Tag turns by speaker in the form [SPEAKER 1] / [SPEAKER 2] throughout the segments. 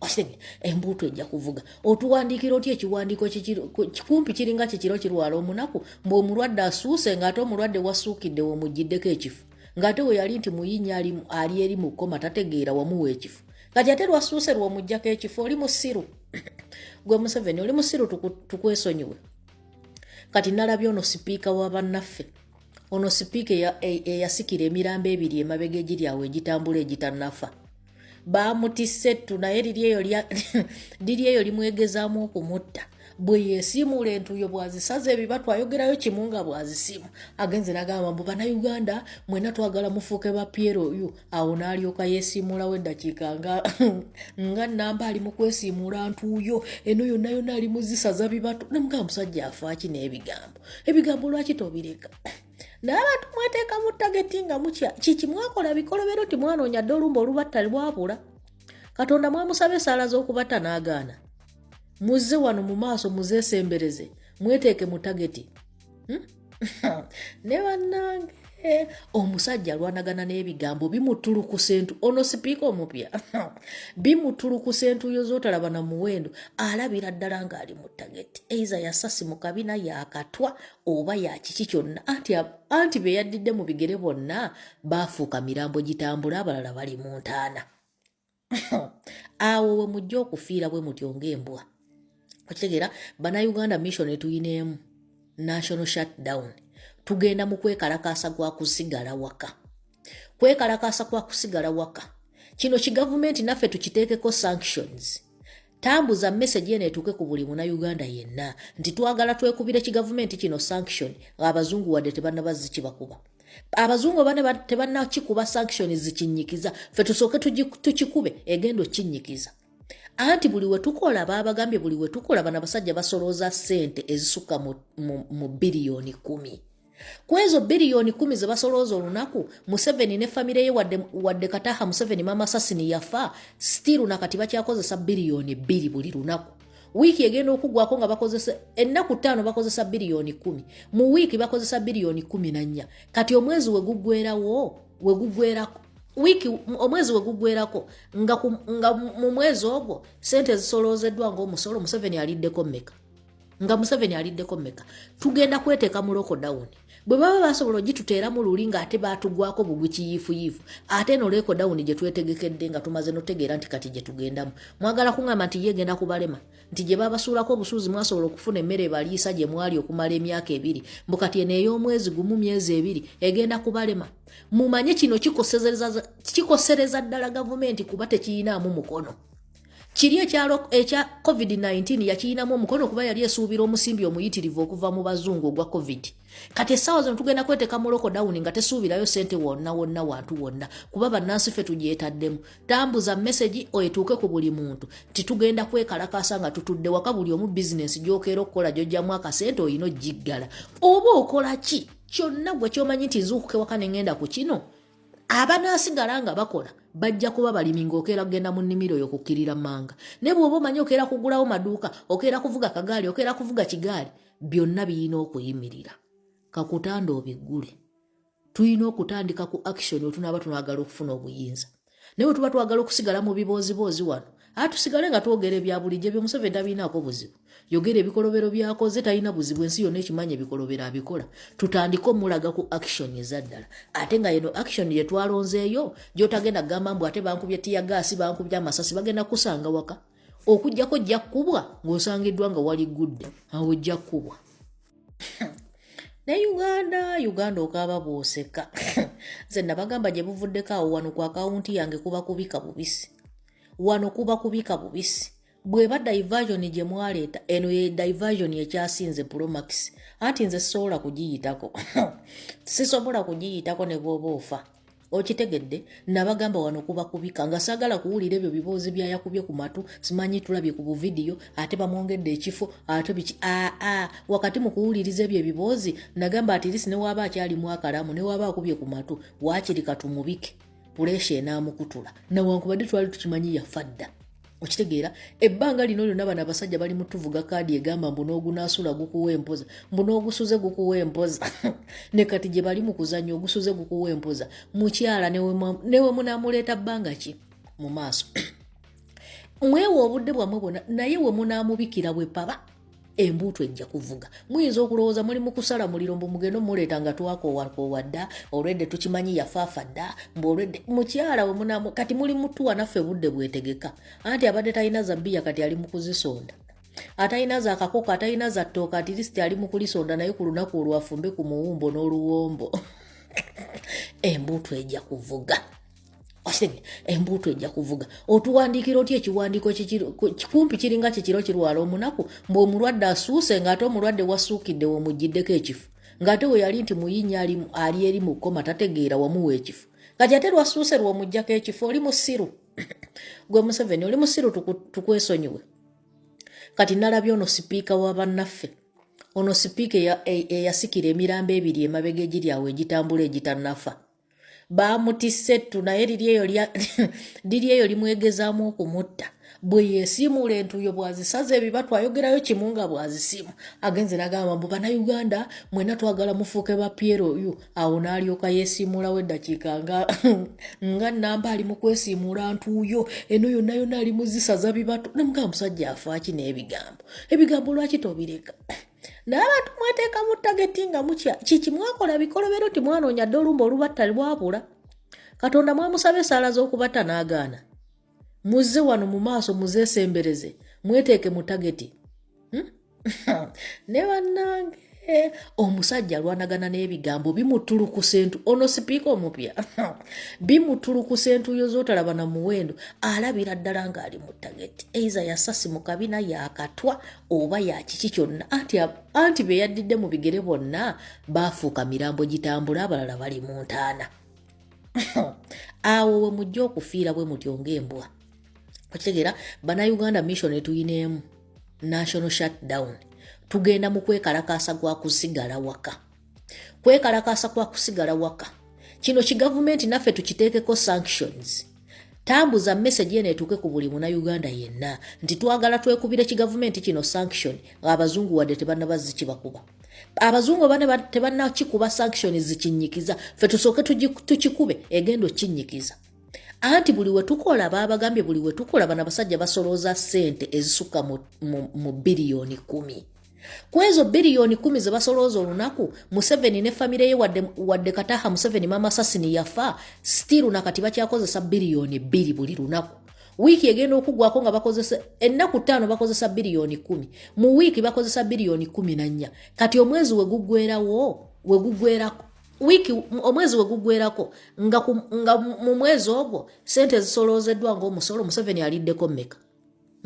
[SPEAKER 1] osenge embuutu ejja kuvuga otuwandiikira otya ekiwandiiko kikumpi kiringa kikiro kirwala omunaku mbu omulwadde asuuse ng'ate omulwadde wasuukidde womuggiddeko ekifo ng'ate we yali nti muyinya ali eri mu kkoma tategeera wamuwa ekifo kati ate lwasuuse lwomuggyako ekifo oli musiru gwe museveni oli musiru tukwesonyiwe kati nalabye ono sipiika wa bannaffe ono sipiika eyasikira emirambo ebiri emabega egiri awo egitambula egitanafa baamutisse ettu naye liri eyo limwegezaamu okumutta bwe yesiimuula entuuyo bwazisaza ebibatu ayogerayo kimu nga bwazisimu agenze nagamba mbu banauganda mwena twagala mufuuke ba piero yu awo naalyoka yesiimuulawo eddakiika nga nga namba ali mu kwesiimuula ntuuyo eno yonna yonna ali muzisaza bibatu namugamba musajja afaaki n'ebigambo ebigambo lwaki tobireka naye abantu mweteeka mu tageti nga mutya kiki mwakola bikolobero ti mwanoonya dde olumba olubatta lwabula katonda mwamusaba esaala z'okubatta n'agaana muzze wano mu maaso muzeesembereze mweteeke mu tageti hmm? ne bannange Eh, omusajja alwanagana n'ebigambo bimutulukusa entu ono sipiika omupya bimutulukusa entuyo z'otalaba na muwendo alabira ddala ng'ali mu tageti eiza yasasi mu kabina yakatwa oba yakiki kyonna anti, anti be yaddidde mu bigere bonna baafuuka mirambo gitambula abalala bali mu ntaana awo we mujja okufiira bwe mutyo ng'embwa okitegeera banauganda mission etuyina emu national shutdown tugenda mu kwekalakaasa gwa kusigala waka kwekalakaasa kwa kusigala waka kino kigavumenti naffe tukiteekeko sanctions Tambuza message eno etuuke ku buli muna Uganda yenna nti twagala twekubire ki gavumenti kino sanction abazungu wadde tebannaba zikibakuba abazungu bane tebannakikuba sanction zikinyikiza fe tusooke tukikube egenda okinyikiza anti buli wetukola babagambye buli wetukola bana basajja basolooza sente ezisukka mu biliyoni kumi ku ezo biliyoni kumi ze basolooza olunaku museveni ne famire ye wadde, wadde kataha museveni mama sasini yafa stiru nakati bakyakozesa biliyoni bbiri buli lunaku wiiki egenda okugwako nga bakozesa ennaku ttaano bakozesa biliyoni kumi mu wiiki bakozesa biliyoni kumi na nnya kati omwezi weguggwerawo weguggwerako wiiki omwezi weguggwerako nga, nga mu mwezi ogwo sente ezisoloozeddwa ngaomusolo museveni aliddeko mmeka nga museveni aliddeko meka tugenda kweteeka mu lokodawuni bwe baba basobola ogituteeramu luli ng'ate baatugwako bugwi kiyiifuyiifu ate eno lokodawuni gye twetegekedde nga tumaze notegeera nti kati gye tugendamu mwagala kuŋamba nti ye egenda kubalema nti gye babasuulako obusuuzi mwasobola okufuna emmere ebaliisa gye mwali okumala emyaka ebiri mbu kati eno ey'omwezi gumu myezi ebiri egenda kubalema mumanye kino kikosereza ddala gavumenti kuba tekiyinaamu mukono kiri ekya covid-19 yakirinamu omukono kuba yali esuubira omusimbi omuyitirivu okuva mu bazungu ogwa covid kati essaawa zino tugenda kweteka mu lokodawuni nga tesuubirayo sente wonna wonna wantu wonna kuba bannansi ffe tugyetaddemu tambuza mesegi etuuke ku buli muntu titugenda kwekalakaasa nga tutudde waka buli omu bizinensi gyokeera okukola gyojjamu akasente olina ogiggala oba okola ki kyonna gwe kyomanyi nti nzuukuka ewaka ne ngenda ku kino abanaasigala nga bakola bajja kuba balimi ng'okeera kugenda mu nnimiro yo kukkirira manga ne bw'oba omanyi okeera kugulawo maduuka okeera kuvuga kagaali okeera kuvuga kigaali byonna birina okuyimirira kakutanda obiggule tulina okutandika ku action wetunaaba tunagala okufuna obuyinza naye wetuba twagala okusigala mu bibooziboozi wano atusigale nga twogera ebya bulijjo ebyo museveni tabirinaako buzibu yogera ebikolobero byakoze talina buzibu ensi yonna ekimanya ebikolobero abikola tutandike omulaga ku action ezaddala ate nga yeno action yetwalonzeeyo gyotagenda kugamba mbu ate bankubye tiyagaasi bankubye amasasi bagenda kusanga waka okujjako ojja kukubwa ng'osangiddwa nga wali gudde awo ojja kukubwa ne uganda uganda okaaba bwoseka nze nabagamba gye buvuddeko awo wano ku akawunti yange kuba kubika bubisi wano kuba kubika bubisi bweba diversion gye mwaleeta eno ye diversion ekyasinze promax anti nze sisobola kugiyitako sisobola kugiyitako ne bwoba ofa okitegedde nabagamba wano kuba kubika nga sagala kuwulira ebyo biboozi byayakubye ku matu simanyi tulabye ku buvidiyo ate bamwongedde ekifo ate biki aa wakati mu kuwuliriza ebyo ebiboozi nagamba atirisi newaaba akyalimu akalamu newaaba akubye ku matu waakiri katumubike puleesha enaamukutula nawankubadde twali tukimanyi yafa dda okitegeera ebbanga lino lyonna bano abasajja bali mutuvuga kaadi egamba mbu n'ogunaasula gukuwa empoza mbu n'ogusuze gukuwa empoza ne kati gye bali mu kuzannya ogusuze gukuwa empoza mukyala newe munaamuleeta bbanga ki mu maaso mwewa obudde bwammwe bwonna naye we munaamubikira bwe paba embuutu ejja kuvuga muyinza okulowooza muli mukusala muliro mbu mugende omuleeta nga twakowakoowa dda olwedde tukimanyi yafaafa dda mbu olwedde mukyala we munamu kati muli mutuwa naffe budde bwetegeka anti abadde talina zabiya kati ali mukuzisonda atalina za kakoko atalina za ttooka atirisiti ali mukulisonda naye ku lunaku olwafumbe ku muwumbo n'oluwombo embuutu ejja kuvuga osenge embuutu ejja kuvuga otuwandiikira otya ekiwandiiko kikumpi kiringa kikiro kirwala omunaku mbu omulwadde asuuse ng'ate omulwadde wasuukidde womuggiddeko ekifo ng'ate we yali nti muyinnya ali eri mu kkoma tategeera wamuwa ekifo kati ate lwasuuse lwomuggyako ekifo oli musiru gwe museveni oli musiru tukwesonyiwe kati nalabye ono sipiika wa bannaffe ono sipiika eyasikira emirambo ebiri emabega egiri awo egitambula egitanafa baamutisse ettu naye liri eyo liri eyo limwegezaamu okumutta bwe yesiimuula entuuyo bwazisaza ebibatu ayogerayo kimu nga bwazisiimu agenze nagamba mbu banauganda mwena twagala mufuuke ba piero oyu awo naalyoka yesiimuulawo eddakiika nga nga namba ali mu kwesiimuula ntuuyo eno yonna yonna ali muzisaza bibatu namugamba musajja afaaki n'ebigambo ebigambo lwaki tobireka naye abantu mweteeka mu tageti nga mutya kiki mwakola bikolobero ti mwanoonya dde olumba olubatta lwabula katonda mwamusaba esaala z'okubatta n'agaana muzze wano mu maaso muzeesembereze mweteeke mu tageti hmm? ne bannange eh, omusajja alwanagana n'ebigambo bimutulukusa entu ono sipiika omupya bimutulukusa entuyo z'otalaba na muwendo alabira ddala ng'ali mu tageti eiza yasasi mu kabina yakatwa oba yakiki kyonna anti anti be yaddidde mu bigere bonna baafuuka mirambo gitambula abalala bali mu ntaana awo we mujja okufiira bwe mutyo ng'embwa okitegeera banauganda mission etuyina emu national shutdown tugenda mu kwekalakaasa gwa kusigala waka kwekalakaasa kwa kusigala waka kino kigavumenti naffe tukiteekeko sanctions tambuza message eno etuuke ku buli muna uganda yenna nti twagala twekubire kigavumenti kino sanction abazungu wadde tebanaba zikibakuba abazungu bane tebanakikuba sanction zikinyikiza fe tusooke tukikube egenda okinyikiza anti buli wetukola babagambye buli wetukola bana basajja basolooza sente ezisukka mu biliyoni kumi ku ezo biliyoni kumi ze basolooza olunaku museveni ne famire ye wadde, wadde kataha museveni mama sasini yafa stiru nakati bakyakozesa biliyoni bbiri buli lunaku wiiki egenda okugwako nga bakozesa ennaku ttaano bakozesa biliyoni kumi mu wiiki bakozesa biliyoni kumi na nnya kati omwezi wegugwerawo wegugwerako wiiki omwezi wegugwerako nga, nga mu mwezi ogwo sente ezisoloozeddwa ngaomusolo museveni aliddeko mmeka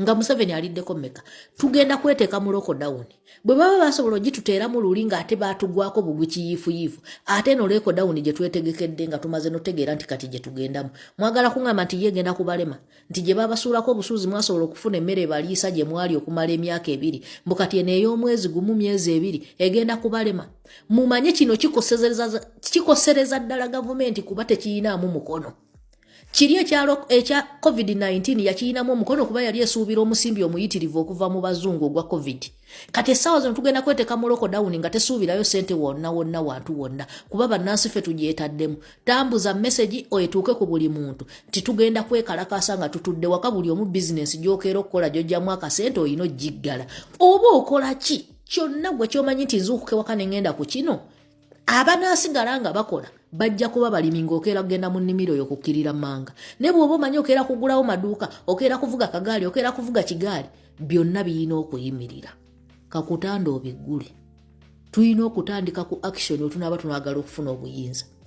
[SPEAKER 1] nga museveni aliddeko meka tugenda kweteeka mu lokodawuni bwe baba basobola ogituteeramu luli ng'ate baatugwako bugwi kiyiifuyiifu ate no lekodawuni gye twetegekedde nga tumaze notegeera nti kati gye tugendamu mwagala kuŋamba nti yegenda kubalema nti gye babasuulako obusuuzi mwasobola okufuna emmere ebaliisa gye mwali okumala emyaka ebiri mbu kati eno ey'omwezi gumu myezi ebiri egenda kubalema mumanye kino kikosereza ddala gavumenti kuba tekiyinaamu mukono kiri ekya covid-19 yakirinamu omukono kuba yali esuubira omusimbi omuyitirivu okuva mu bazungu ogwa covid kati essaawa zino tugenda kweteka mu lokodawuni nga tesuubirayo sente wonna wonna wantu wonna kuba bannansi ffe tugyetaddemu tambuza mesegi oetuuke ku buli muntu nti tugenda kwekalakaasa nga tutudde waka buli omu bizinensi gyokeera okukola gyojjamu akasente olina ogiggala oba okola ki kyonna gwe kyomanyi nti nzuukuka ewaka ne ngenda ku kino abanaasigala nga bakola bajja kuba balimi ng'okeera kugenda mu nnimiro yo kukkirira manga ne bw'oba omanyi okeera kugulawo maduuka okeera kuvuga kagaali okeera kuvuga kigaali byonna birina okuyimirira kakutanda obiggule tulina okutandika ku action otunaaba tunagala okufuna obuyinza